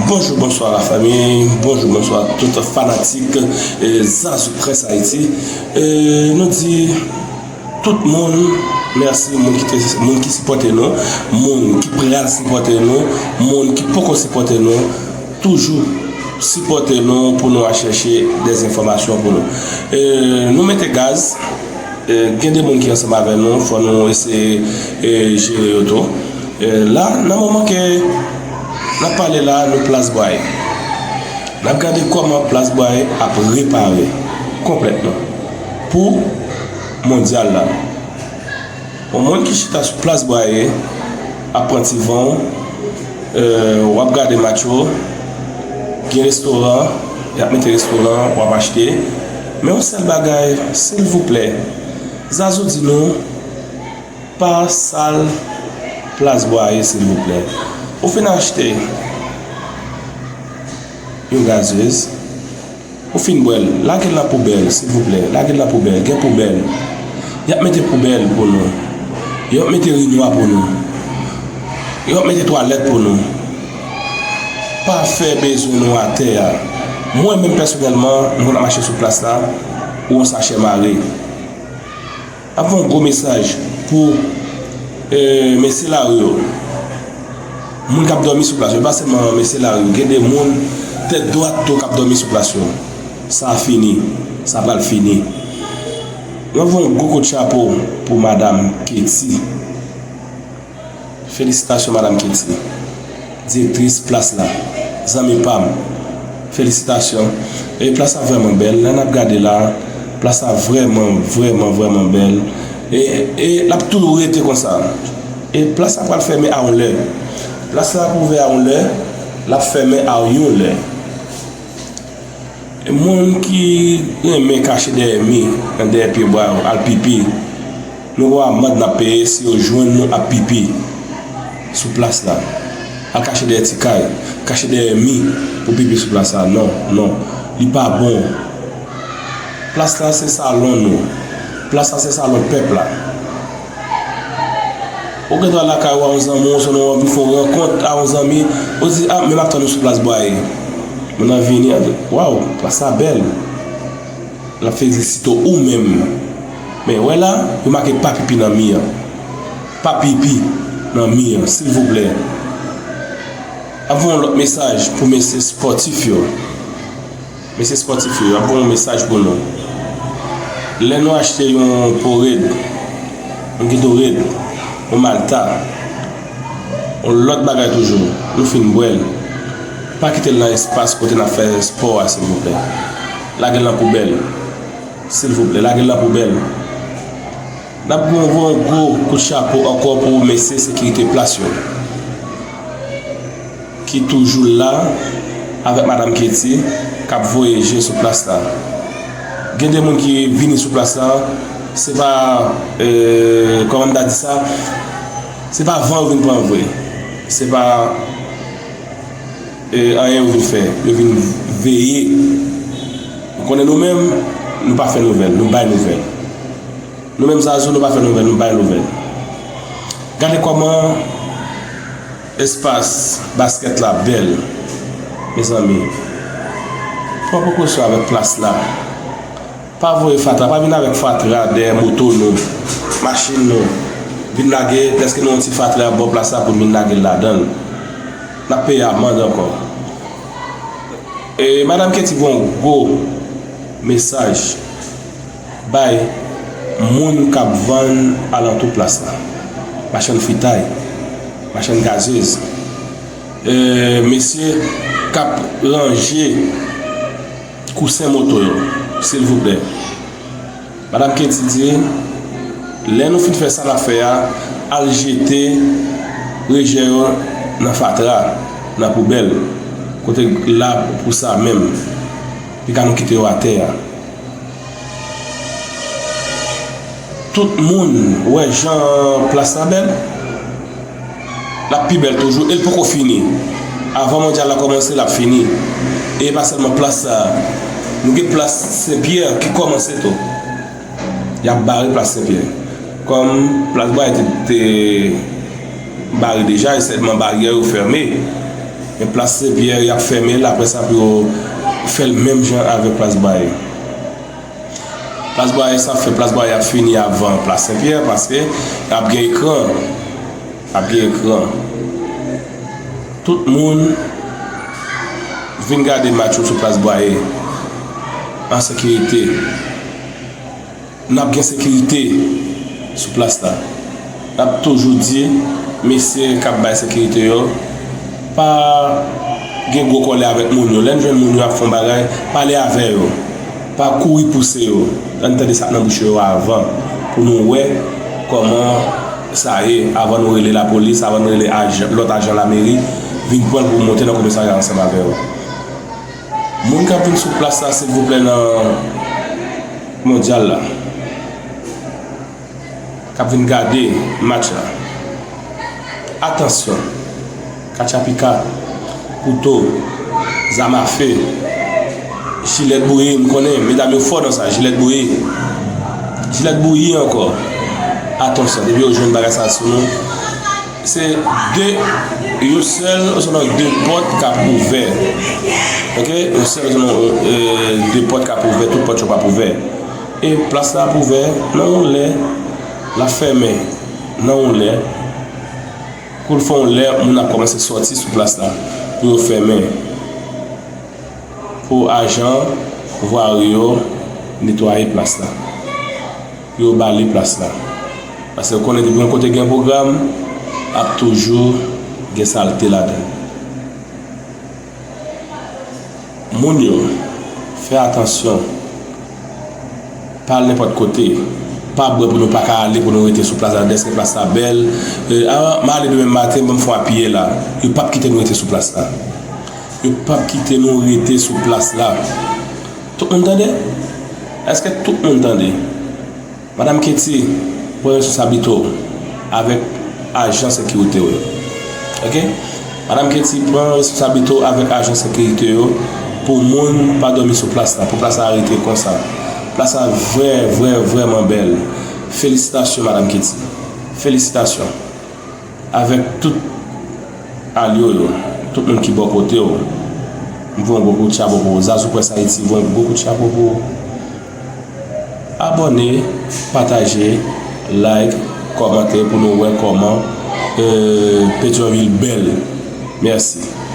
Bonjou bonswa la fami, bonjou bonswa tout fanatik zazou près ayiti Nou di tout moun mèsi moun ki sipote nou Moun ki pral sipote nou, moun ki poko sipote nou Toujou sipote nou pou nou al chèche de enfòmasyon pou nou Nou mete gaz, gen de moun ki ansanm avè nou fò nou eseye jere yo tou La, nan moman ke n ap pale la a, nou Plas Bwaye. N ap gade kòman Plas Bwaye ap repare konplètman pou Mondyal la. Yon moun ki chita sou Plas Bwaye ap pran ti van w, w ap gade match yo, gen restoran, y ap mete restoran, w ap achte. Men yon sèl bagay, silvouplè, Zazou di nou. Pa sal plas bwa a ye silvouplè. Ou fin achte yon gazeuse, ou fin bwè l, lage l nan poubèl silvouplè, lage l nan poubèl, gen poubèl. Y ap mete poubèl pou nou. Yo ap mete urinwa pou nou. Yo ap mete twalèt pou nou. Pa fè bezwen nou atè a. Mwen menm pèsonèlman, mwen konn ap mache sou plas la, ou yon sachè mare. Ap fè yon gwo mesaj pou mesye lari yo, moun k ap dòmi sou plas yo, e pa sèlman mesye lari yo, gen de moun tèt dwat tou k ap dòmi sou plas yo. Sa a fini, sa pral fini. Mwen ap fè yon gwo kout chapo pou madam Kety. Felisitasyon madam kilti. Direktris plas la. Zanmi pam. Felisitasyon. E plas la vreman bel. Lè nap gade la. Plas la vreman vreman vreman bel. E e lap toujou rete konsa. E plas la pral fèmen a yon lè. Plas la ap ouvè a yon lè. Lap fèmen a yon lè. Moun ki renmen kache dèyè mi nan dèyè pye bwa yo al pipi, nou gwo amand nap peye si yo jwenn nou ap pipi sou plas la. Al kache dèyè ti kay, kache dèyè mi pou pipi sou plas la non, non, li pa bon. Plas la se salon nou, plas la se salon pèp la. Ou gen dwa lakay ou a yon zanmi w osnon ou anvi fè yon rankont a yon zanmi, ou di, a men m ap tann ou sou plas bwaye. Moun nan vini, ap di, waw, plas la bèl. L ap felisite ou menm. Men, wè la, yo make pa pipi nan mi an. Pa pipi nan mi an, silvouplè. Ap voye yon lòt mesaj pou mesye spòtif yo. Mesye spòtif yo, map gen yon mesaj pou nou. Lè nou achte yon po red, yon geto red, yon malta, yon lòt bagay toujou, nou fin bwèl, pa kitel nan espas kote nap fè spò a silvouplè. Lagel nan poubèl. Silvouplè, lagel nan poubèl. Nap bon vre yon gwo kout chapo ankò pou mesye sekirite plas yo ki toujou la avèk madam Katie kap voye je sou plas la gen de moun ki vini sou plas la se pa kòman m ta di sa se pa van yo vin pran vre se pa anyen yo vin fè yo vin veye ou konnen nou menm nou pa fè nouvèl nou bay nouvèl. Nou menm zazou nou pa fè nouvèl nou bay nouvèl Gade kòman espas baskèt la bèl mezanmi Mwen poko chwa avèk plas la Pa voye fatra pa vin avèk fatra dèyè moto nou machin nou vin lage dèske nou yon ti fatra bò plas la pou nou vin lagel ladanl Nap peye amand ankò E madam Katie voyou gwo mesaj. Bay moun k ap vann alantou plas la, machann fritay, machann gazez, mesye k ap ranje kousen moto yo, silvouplè. Madam Katie di, Lè nou fin fè sa n ap fè a, al jete rejè yo nan fatra, nan poubèl, kote l ap pou sa menm. Li ka nou kite yo atè a. Tout moun wè jan plas la bèl. L ap pi bèl toujou e l poko fini. Avan mondyal la kòmanse l ap fini. E pa sèlman plas sa a. Nou gen plas Sen Pyè ki kòmanse tou. Y ap bare plas Sen Pyè. Kòm plas Bwaye te. Bare deja e sèlman baryè yo fèmen men plas sen pyè yap fèmen l aprè sa pou yo fèl menm jan avèk plas bwaye plas bwaye sa fè plas bwaye ap fini avan plas sen pyè paske ap gen ekran ap gen ekran tout moun vin gade match yo sou plas bwaye an sekirite. N ap gen sekirite sou plas la. N ap toujou di mesye k ap bay sekirite yo pa gen gwo kòlè avèk moun yo. Lè n jwenn moun yo ap fè yon bagay, pale avè yo. Pa kouri pouse yo. An n tande sa k nan bouch yo avan pou nou wè kòman sa ye, avan nou rele lapolis, avan nou rele lòt ajan lameri vin pran l pou monte nan komisarya ansanm avè yo. Moun kap vin sou plas la silvouplè nan mondyal la kap vin gade match la atansyon katchapika kouto zam afe jilèt bouyi m konnen medam yo fò nan sa jilèt bouyi jilèt bouyi ankò atansyon depi yo jwenn bagay sa sou nou. Se de yon sèl ou sèlman de pòt kap ouvè ok yon sèl ou sèlman de pòt kap ouvè tout pòt yo pap ouvè e plas la ap ouvè nan yon lè lap fèmen nan yon lè poul fè yon lè moun ap kòmanse sòti sou plas la pou yo fèmen pou ajan vwari yo netwaye plas la. pou yo ba li plas la. Pase ou konnen depi yon kote gen pwogram, ap toujou gen salte ladan l. Moun yo, fè atansyon, pa al nenpòt kote, pa bwè pou nou pa ka ale pou nou rete sou plas la dèske plas la bèl, a, m ale demen maten bon m fon apiye la. Yo p ap kite nou rete sou plas la. Yo p ap kite nou rete sou plas la. Tout moun tande? Eske tout moun tande? Madam Katie, pran responsabilite w avèk ajan sekirite w yo. Ok? Madam Katie, pran responsabilite w avèk ajan sekirite yo pou moun pa dòmi sou plas la, pou plas la rete konsa. Plas la vrè vrè vrèman bèl. Felisitasyon Madam Katie. Felisitasyon. Avèk tout alyo yo, tout moun ki bò kote w, m voye yon gwo kout chapo pou ou. Zazoupresshaiti voye yon gwo kout chapo pou ou. Abòne, pataje, like, kòmante pou nou wè kòman Pétion ville bèl. Mèsi.